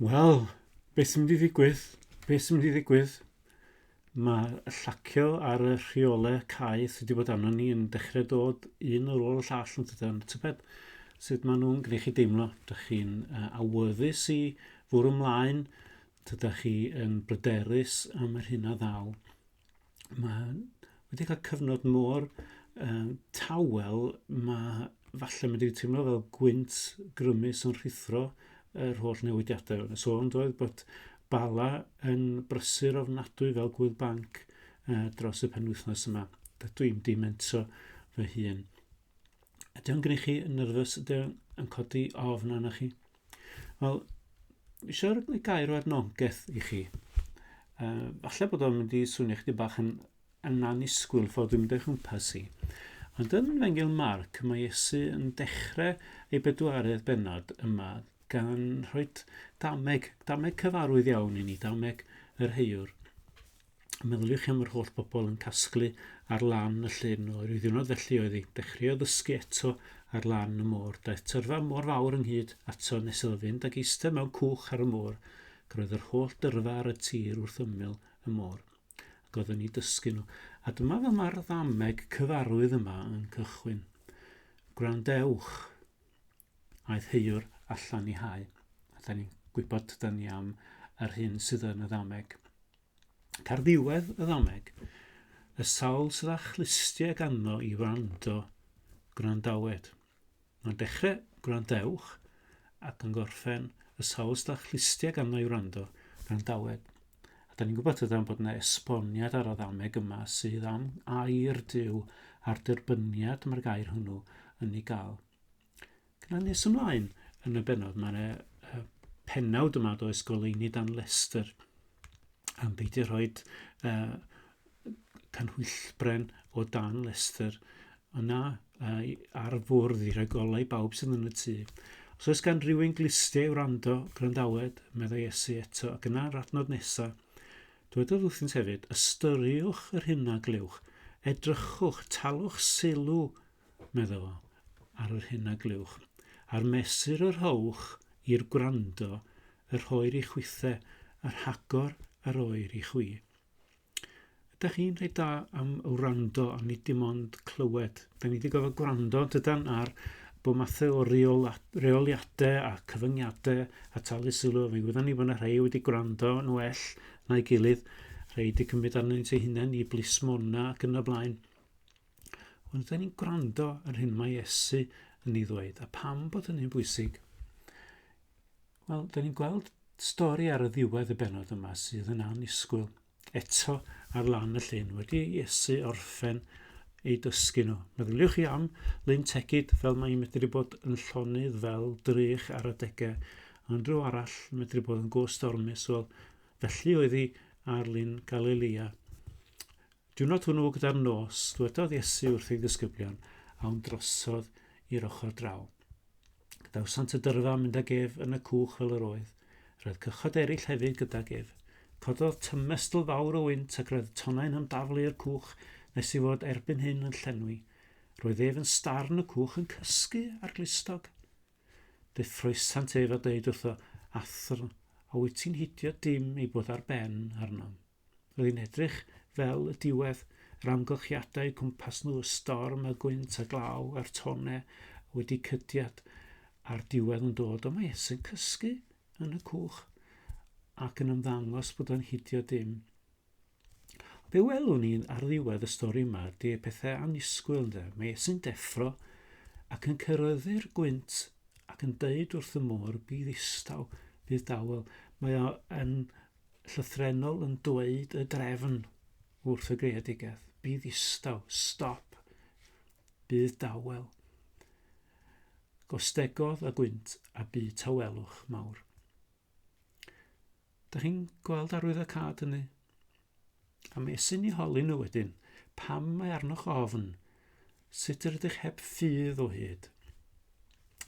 Wel, beth sy'n mynd i ddigwydd? Beth sy'n mynd i ddigwydd? Mae llacio ar y rheolau cae sydd wedi bod arno ni yn dechrau dod un ar ôl y llall yn tydan. Tybed sut maen nhw'n gwneud chi deimlo? Dych chi'n uh, awyddus i fwrw ymlaen? Tydych chi yn bryderus am yr hyn a ddaw? mae'n wedi cael cyfnod mor um, tawel, mae falle wedi teimlo fel gwynt grymus yn rhithro yr holl newidiadau. Yn y sôn doedd bod Bala yn brysur ofnadwy fel gwyl banc uh, dros y penwythnos yma. Dydw i'n dimento fy hun. Ydy o'n gwneud chi yn nyrfys? Ydy o'n codi ofn arna chi? Wel, eisiau rhoi gair o adnogaeth i chi. Uh, falle bod o'n mynd i swnio chdi bach yn, yn anusgwyl ffordd dwi'n mynd o'i chwmpas i. Ond yn Fengil Marc, mae Iesu yn dechrau ei bedwaredd benod yma gan rhoi dameg, dameg cyfarwydd iawn i ni, dameg yr heiwr. Meddyliwch chi am yr holl bobl yn casglu ar lan y llyn o ryw ddiwrnod felly oedd hi. Dechreuodd ddysgu eto ar lan y môr. Daeth tyrfa mor fawr ynghyd ato nes iddo fynd ac eistedd mewn cwch ar y môr. Roedd yr holl dyrfa ar y tir wrth ymyl y môr. Ac oedd yn ei dysgu nhw. A dyma fel mae'r ddameg cyfarwydd yma yn cychwyn. Gwrandewch. Aeth Heuwr allan i hau. Da ni'n gwybod tydan ni am yr hyn sydd yn y ddameg. Car ddiwedd y ddameg, y sawl sydd â chlustiau ganddo i wrando, gwrandawed. Mae'n dechrau gwrandewch ac yn gorffen y sawl sydd â chlustiau ganddo i wrando, gwrandawed. A da ni'n gwybod tydan bod yna esboniad ar y ddameg yma sydd am air Dyw a'r derbyniad mae'r gair hwnnw yn ei gael. Gyda nes ymlaen yn y benod, mae'n e, y penawd yma does goleini dan Leicester am beidio rhoi uh, canhwyllbren o dan Leicester yna uh, ar fwrdd i roi golau i bawb sydd yn y tŷ. Os oes gan rhywun glistiau wrando, gwrandawed, meddai Iesu eto, ac yna yr adnod nesaf, Dwedodd wrthynt hefyd, ystyriwch yr hyn a glywch, edrychwch, talwch sylw medda fo, ar yr hyn a glywch, a'r mesur a rhowch i'r gwrando, y rhoir i chwithe, a rhagor a roir i chwi. Ydych chi'n rhaid da am wrando a nid dim ond clywed. Da ni wedi gofod gwrando dydan ar bod mathau o reoliadau a cyfyngiadau a talu sylw. Fe gwyddan ni bod yna rhai wedi gwrando yn well na'i gilydd, rhai wedi cymryd arnyn nhw'n eu hunain i blismona ac yn y blaen. Ond da ni'n gwrando ar hyn mae Iesu yn ei ddweud, a pam bod hynny'n bwysig? Wel, da ni'n gweld stori ar y ddiwedd y benod yma sydd yn anusgwyl. Eto ar lan y llyn, wedi Iesu orffen ei dysgu nhw. Meddyliwch chi am Lyn Tegid fel mae'n medru bod yn llonydd fel drych ar adegau, ond rhyw arall medru bod yn gostormus, wel, felly oedd hi ar Lyn Galilea. Diwrnod hwnnw gyda'r nos, dwedodd Iesu wrth ei ddisgyblion, awn drosodd i'r ochr draw. Gadawsant y dyrfa mynd ag ef yn y cwch fel yr oedd. Roedd cychod eraill hefyd gydag ef. Cododd tymestl fawr o wynt ac roedd tonnau'n ymdaflu i'r cwch nes i fod erbyn hyn yn llenwi. Roedd ef yn star yn y cwch yn cysgu ar glustog. Fe ffroesant ef a dweud wrtho, Athr, a wyt ti'n hidio dim ei bod ar ben arnom? Rwy'n edrych fel y diwedd, yr amgylchiadau cwmpas nhw, y storm, y gwynt, y glaw, a'r tone wedi cydiad, a'r diwedd yn dod, ond mae Esy'n cysgu yn y cwch ac yn ymddangos bod o'n hidio dim. Be welwn ni ar ddiwedd y stori yma ydy pethau anusgwyl ynde. Mae Esy'n deffro ac yn cyrraeddu'r gwynt ac yn dweud wrth y môr bydd istaw, bydd dawel. Mae o yn llythrennol yn dweud y drefn wrth y greadigaeth. Bydd ddistaw, stop, bydd dawel, gostegodd a gwynt a bu tawelwch mawr. Da chi'n gweld arwydd y cad hynny? A mi esyn ni holi nhw wedyn, pam mae arnoch ofn, sut yr ydych heb ffydd o hyd.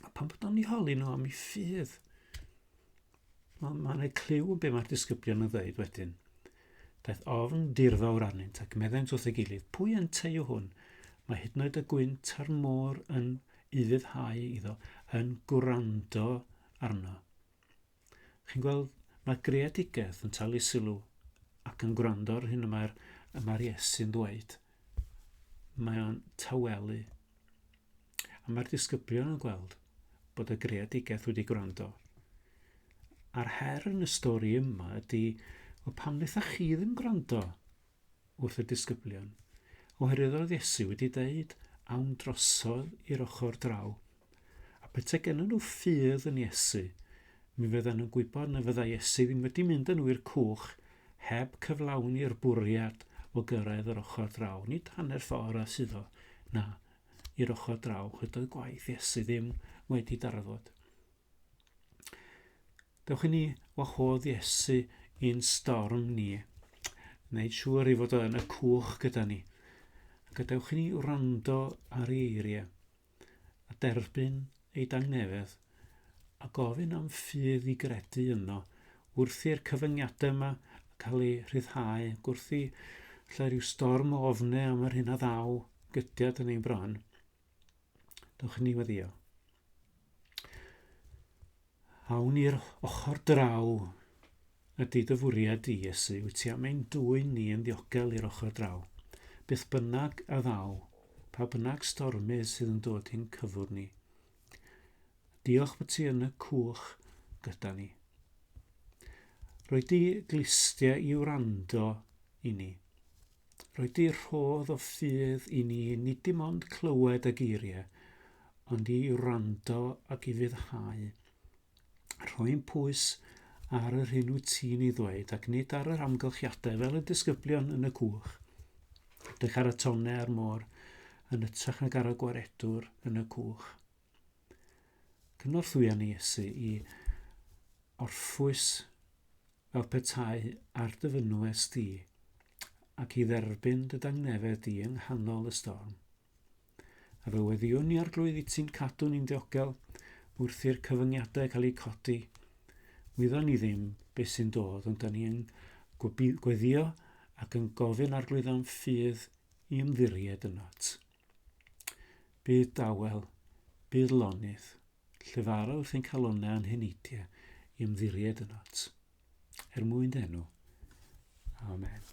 A pan bod o'n ni holi nhw am ei ffydd, Mae'n ma rhoi clyw be mae'r disgyblion yn ddweud wedyn. Daeth ofn dirfawr arnynt ac meddent wrth ei gilydd, pwy yn teio hwn? Mae hyd yn oed y gwynt a'r môr yn ufuddhau iddo, yn gwrando arno. Chi'n gweld, mae greadigaeth yn talu sylw ac yn gwrando ar hyn y mae'r mae Iesu'n ddweud. Mae o'n tawelu. A mae'r disgyblion yn gweld bod y greadigaeth wedi gwrando. A'r her yn y stori yma ydy, o pam wnaetha chi ddim gwrando wrth y disgyblion? Oherwydd oedd Iesu wedi dweud, awn drosodd i'r ochr draw. A pethau gen nhw ffydd yn Iesu, mi fyddan nhw'n gwybod na fydda Iesu ddim wedi mynd yn nhw i'r cwch heb cyflawni'r bwriad o gyrraedd yr ochr draw. Nid hanner ffordd a sydd o, na, i'r ochr draw, chyd oedd gwaith Iesu ddim wedi darfod. Dewch i ni wahodd Iesu i'n storm ni, wneud siŵr i fod yn y cwch gyda ni. Gadewch i ni wrando ar ei eiriau a derbyn ei dangnefedd a gofyn am ffydd i gredu yno wrth i'r cyfyngiadau yma cael eu rhyddhau, wrth i lle rhyw storm o ofne am yr hyn a ddaw gydiad yn ein bron. Dewch ni weddio. Awn i'r ochr draw ydy dy fwriad di, Iesu, wyt ti am ein dwy'n ni yn ddiogel i'r ochr draw. Byth bynnag a ddaw, pa bynnag stormydd sydd yn dod i'n cyfwr ni, Diolch bod ti yn y cwch gyda ni. Rwy di glistia i wrando i ni. Rwy di rhodd o ffydd i ni nid dim ond clywed y geiriau, ond i wrando ac i fyddhau. Rhoi'n pwys ar yr hyn wyt ti'n ei ddweud ac nid ar yr amgylchiadau fel y disgyblion yn y cwch. Dych ar y tonne a'r môr yn ytrach nag ar y gwaredwr yn y cwch. Cynorthwya ni Iesu i orffwys fel petai ar dy fynwes di ac i dderbyn dy dangnefedd di yng nghanol y storm. A fy weddiwn i Arglwydd i ti'n cadw ni'n ddiogel wrth i'r cyfyngiadau cael eu codi. Wyddon ni ddim beth sy'n dod, ond da ni yn gweddio ac yn gofyn Arglwydd am ffydd i ymddiried ynot. Bydd dawel, bydd lonydd, llefara wrth ein calonau a'n heneidiau i ymddiried ynot. Er mwyn denw. Amen.